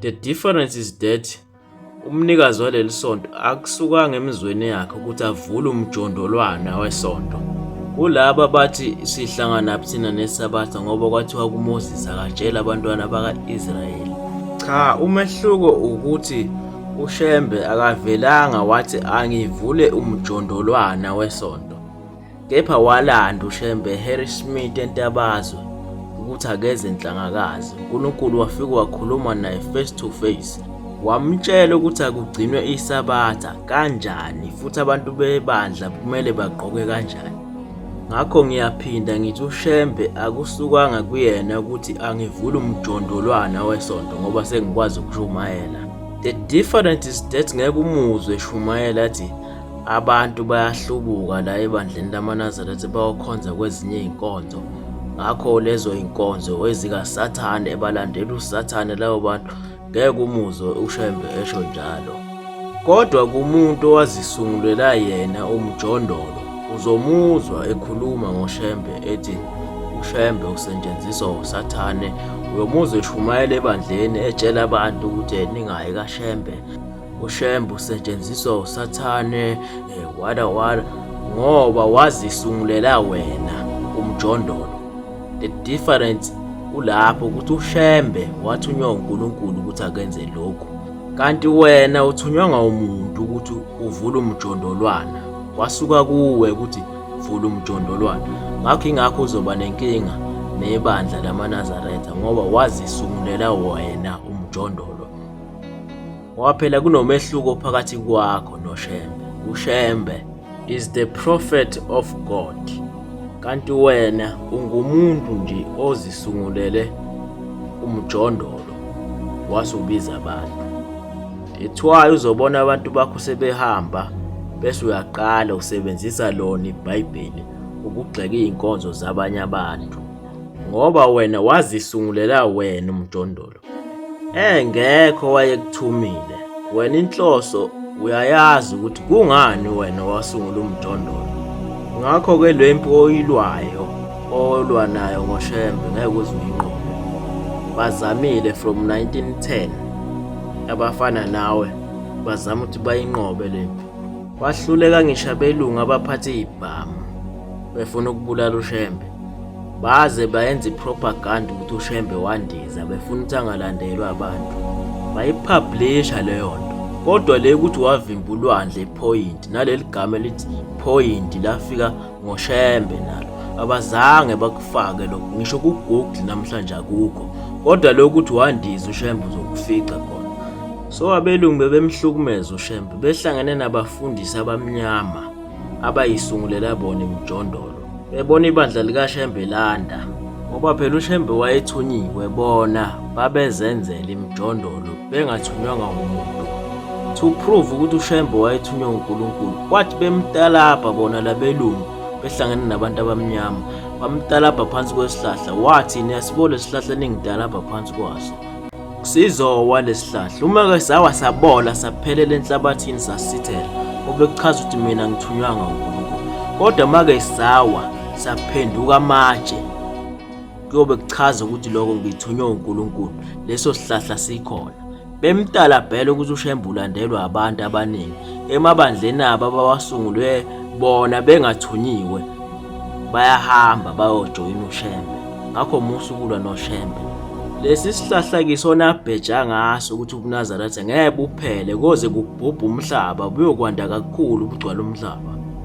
The difference is that umnikazi waleli sonto akusukanga emizweni yakhe ukuthi avule umjondolwana wesonto kulaba bathi sihlangana thina nesabatha ngoba kwathiwa kuMoses akatshela abantwana baka-Israyeli cha umehluko ukuthi uShembe akavelanga wathi angivule umjondolwana wesonto Kepha walanda uShembe Harry Smith entabazwe ukuthi akeze enhlangakazi. UNkulunkulu wafika wakhuluma naye face to face. Wamtshela ukuthi akugcinwe isabatha kanjani futhi abantu bebandla kumele bagqoke kanjani. Ngakho ngiyaphinda ngithi uShembe akusukanga kuyena ukuthi angivule umjondolwana wesonto ngoba sengikwazi ukushumayela. The difference is that ngeke umuzwe eshumayela athi Abantu bayahlubuka la ebandleni lamaNazaretha bayokhonza kwezinye izinkonzo. Ngakho lezo inkonzo ezikaSathane ebalandela uSathane labo bantu ngeke umuzwe uShembe esho njalo. Kodwa kumuntu owazisungulela yena umjondolo uzomuzwa ekhuluma ngoShembe ethi uShembe usetshenziswa uSathane uyomuzwa eshumayela ebandleni etshela abantu ukuthi ningayi kaShembe uShembe usetshenziswa usathane eh, wada wada ngoba wazisungulela wena umjondolo the difference kulapho ukuthi uShembe wathunywa uNkulunkulu ukuthi akenze lokhu kanti wena uthunywa ngawumuntu ukuthi uvule umjondolwana kwasuka kuwe ukuthi vula umjondolwana ngakho ingakho uzoba nenkinga nebandla lamaNazaretha ngoba wazisungulela wena umjondolo Ngoba phela kunomehluko phakathi kwakho noShembe. UShembe is the prophet of God. Kanti wena ungumuntu nje ozisungulele umjondolo wase ubiza abantu. That's why uzobona abantu bakho sebehamba bese uyaqala usebenzisa lona iBhayibheli ukugxeka izinkonzo zabanye abantu ngoba wena wazisungulela wena umjondolo umuntu engekho wayekuthumile wena inhloso uyayazi ukuthi kungani wena wasungula umjondolo ngakho ke le mpi oyilwayo olwa nayo ngoshembe ngeke uze uyinqobe bazamile from 1910 abafana nawe bazama ukuthi bayinqobe le mpi wahluleka ngisho abelungu abaphathe ibhamu befuna ukubulala ushembe Baze bayenza i-propaganda ukuthi uShembe wandiza befuna ukuthi angalandelwa abantu. Bayipublisha leyo nto. Kodwa le ukuthi wavimba ulwandle iphoyinti naleli gama elithi phoyinti lafika ngoShembe nalo. Abazange bakufake lokho ngisho ku-Google namhlanje akukho. Kodwa lokho ukuthi wandiza uShembe uzokufica khona. So abelungu bebemhlukumeza uShembe behlangene nabafundisi abamnyama. abayisungulela bona emjondolo bebona ibandla likaShembe landa ngoba phela uShembe wayethunyiwe bona babezenzela imjondolo bengathunywanga ngumuntu to prove ukuthi uShembe wayethunywe uNkulunkulu kwathi bemtalabha bona labelungu behlangene nabantu abamnyama bamtalabha phansi kwesihlahla wathi niyasibona lesihlahla ningidalabha phansi kwaso Sizowa lesihlahla uma ke sawa sabola saphelela enhlabathini sasithela obekuchaza ukuthi mina ngithunywanga uNkulunkulu kodwa make sawa saphenduka amatshe kuyobe kuchaza ukuthi lokho ngithunywe uNkulunkulu leso sihlahla sikhona bemtala bhele ukuthi ushembulandelwa abantu abaningi emabandleni abo abawasungulwe bona bengathunyiwe bayahamba bayojoyina uShembe ngakho musa ukulwa noShembe lesi sihlahla kisona abheja ngaso ukuthi ubunazaretha ngeke buphele koze kubhubhe umhlaba buyokwanda kakhulu bugcwala umhlaba